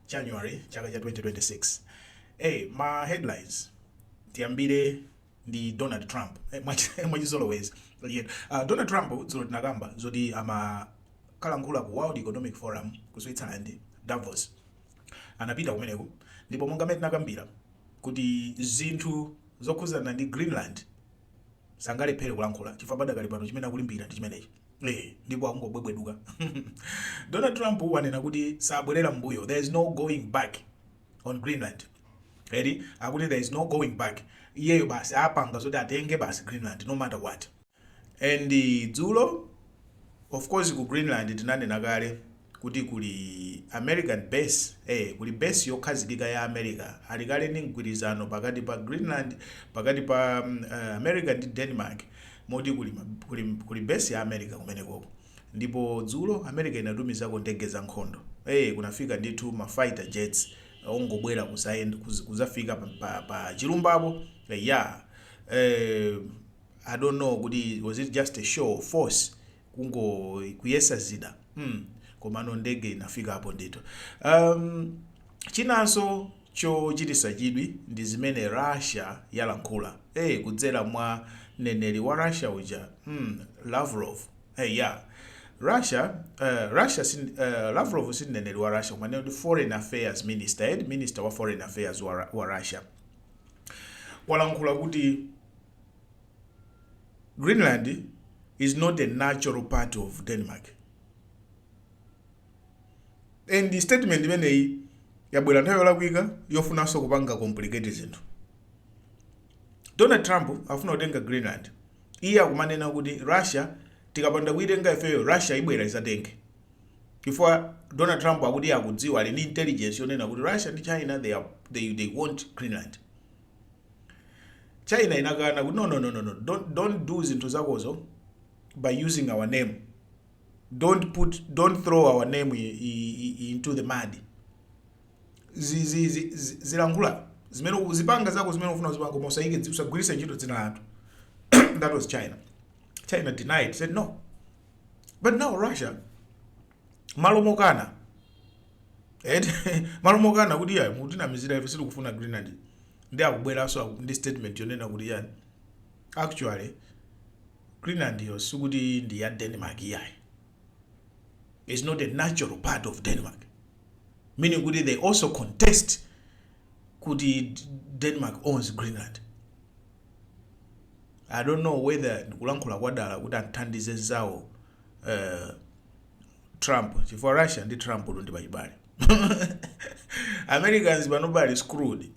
January chaka cha 2026 eh ma headlines tiyambire ndi Donald Trump eh, mwachizolowezi yeah. uh, Donald Trump dzulo tinakamba zoti amakalankhula ku World Economic Forum ku Switzerland Davos anapita kumeneko ndipo monga mmene tinakambira kuti zinthu zokhuzana ndi Greenland sangalephere kulankhula chifukwa padakali pano chimene akulimbira ndi chimenechi eh, ndipo akungobwebweduka donald trump wanena kuti sabwerera mbuyo there is no going back on greenland eri akuti there is no going back iyeyo basi apanga zoti atenge basi greenland no matter what and dzulo of course ku greenland tinanena kale kuti kuli American base, ee, kuli base yokhazikika ya America, ali kale ndi mgwirizano pakati pa Greenland, pakati pa America ndi Denmark, moti kuli, kuli, kuli base ya America kumenekoko. Ndipo dzulo America inatumizako ndege za nkhondo, ee, kunafika ndithu ma fighter jets ongobwera kuzayend, kuz, kuzafika pa, pa, pa chilumbapo, eya, ee, I don't know kuti was it just a show of force, kungo kuyesa zida mm. komano ndege inafikapo ndithu um, chinanso chochitisa chidwi ndi zimene russia yalankhula hey, eh, kudzera mwa mneneri wa russia uja mm, lavrov hey, eh, yeah. russia uh, russia sin, uh, lavrov si mneneri wa russia koma ndi foreign affairs minister eh minister wa foreign affairs wa, wa russia walankhula kuti Greenland is not a natural part of Denmark and statement imeneyi yabwera nthawi yolakwika yofunanso kupanga complicate zinthu donald trump afuna kutenga greenland iye akumanena kuti russia tikapanda kuitenga ifeyo russia ibwera izatenge chifukwa donald trump akuti iye akudziwa ali ndi intelligence yonena kuti russia ndi china they, are, they, they want greenland china inakana kuti no no no no no don't, don't do zinthu zakozo by using our name don't put don't throw our name i, i, i, into the mud zi- zi- zi- zi- uzilankhula zimene uzipanga zako zimene ufuna uzipanga koma usaike dzi- usagwiritse ntchito dzina lathu that was china china denied said no but now russia malo mokana eti malo mokana kuti ya mutinamizira ife sitikufuna greenland ndi akubweranso aku- ndi statement yonena kuti yani actually greenland yo sikuti ndi ya denmark iyayi is not a natural part of denmark meaning kuti they also contest kuti D- denmark owns greenland i don't know whether ndikulankhula kwadala kuti athandize zawo uh, Trump chifukwa Russia ndi Trump uno ndi pachibale Americans panopa ali screwed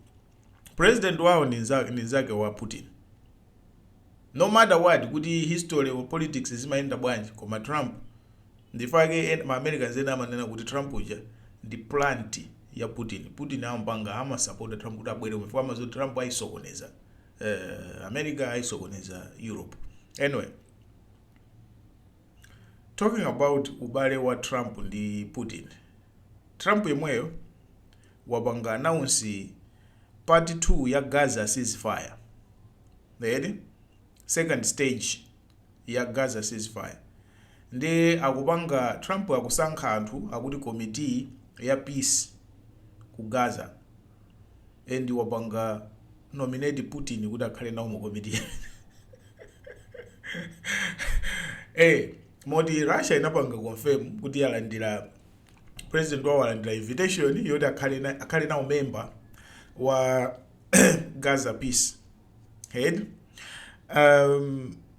president wao ni nza- ni nzake wa Putin no matter what kuti history or politics zimayenda bwanji koma Trump ndifake en- ma Americans ena amanena kuti Trump uja ndi plant ya Putin Putin amapanga amasapota Trump kuti abwere kumene fama zoti Trump ayisokoneza eh, America ayisokoneza Europe anyway Talking about ubale wa Trump ndi Putin, Trump yemweyo wapanga announce part 2 ya Gaza ceasefire eti, second stage ya Gaza ceasefire ndiye akupanga Trump akusankha anthu akuti committee ya peace ku Gaza. and wapanga nominate putin kuti akhale nawo mu komiti eh moti russia inapanga confirm kuti yalandira president wawo alandira invitation yoti akhale na- akhale nawo member wa gaza peace head um,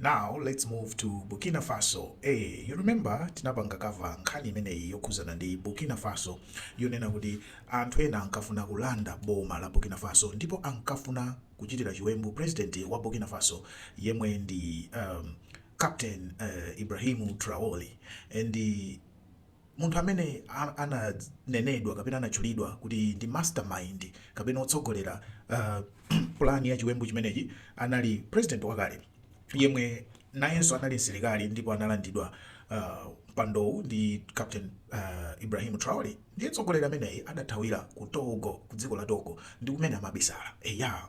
Now let's move to Burkina Faso ee you remember tinapanga cover nkhani imeneyi yokhuzana ndi Burkina Faso yonena kuti anthu ena ankafuna kulanda boma la Burkina Faso ndipo ankafuna kuchitira chiwembu president wa Burkina Faso yemwe ndi um, Captain uh, Ibrahim Traore and Munthu amene ananenedwa kapena anatchulidwa kuti ndi mastermind kapena otsogolera plan ya chiwembu chimenechi anali president wakale yemwe nayenso anali msilikali ndipo analandidwa mpandowu ndi Captain Ibrahim Traore. Ndiye mtsogoleri ameneyi adathawira ku Togo, ku dziko la Togo, ndi kumene amabisala. Eya,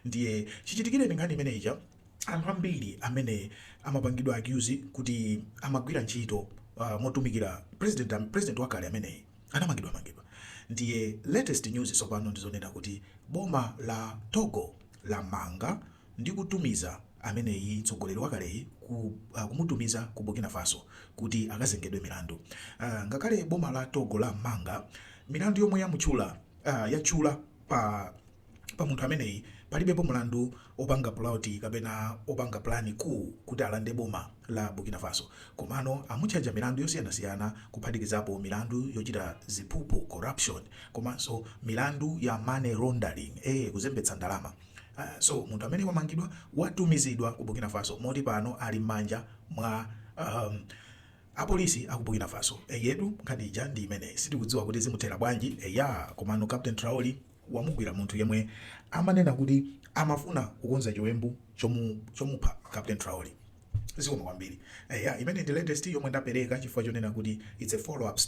ndiye chichitikireni nkhani imene ija. Anthu ambiri amene amapangidwa accuse kuti amagwira ntchito uh, motumikira president, um, president wakale ameneyi anamangidwa mangidwa. Ndiye latest news tsopano ndizonena kuti boma la Togo lamanga ndi kutumiza ameneyi mtsogoleri wakaleyi ku, uh, kumutumiza ku Burkina Faso kuti akazengedwe milandu. Uh, ngakhale boma la Togo lamanga milandu yomwe yamutchula uh, yatchula pa Pa munthu ameneyi palibepo mulandu opanga puloti kapena opanga pulani ku kuti alande boma la Burkina Faso. Komano amutchaja milandu yosiyanasiyana kuphatikizapo milandu yochita ziphuphu, corruption, komanso milandu ya money laundering, ee kuzembetsa ndalama. So munthu amene wamangidwa watumizidwa ku Burkina Faso moti pano ali mmanja mwa apolisi aku Burkina Faso. Eyetu nkhani ija ndi imeneyi sitikudziwa kuti zimuthera bwanji eya komano Captain Traore. wamugwira munthu yemwe amanena kuti amafuna kukonza chiwembu chomu, chomupha Captain Traore. Zikomo kwambiri. Eya, imeneyi ndi latest yomwe ndapereka chifukwa chonena kuti it's a follow up story.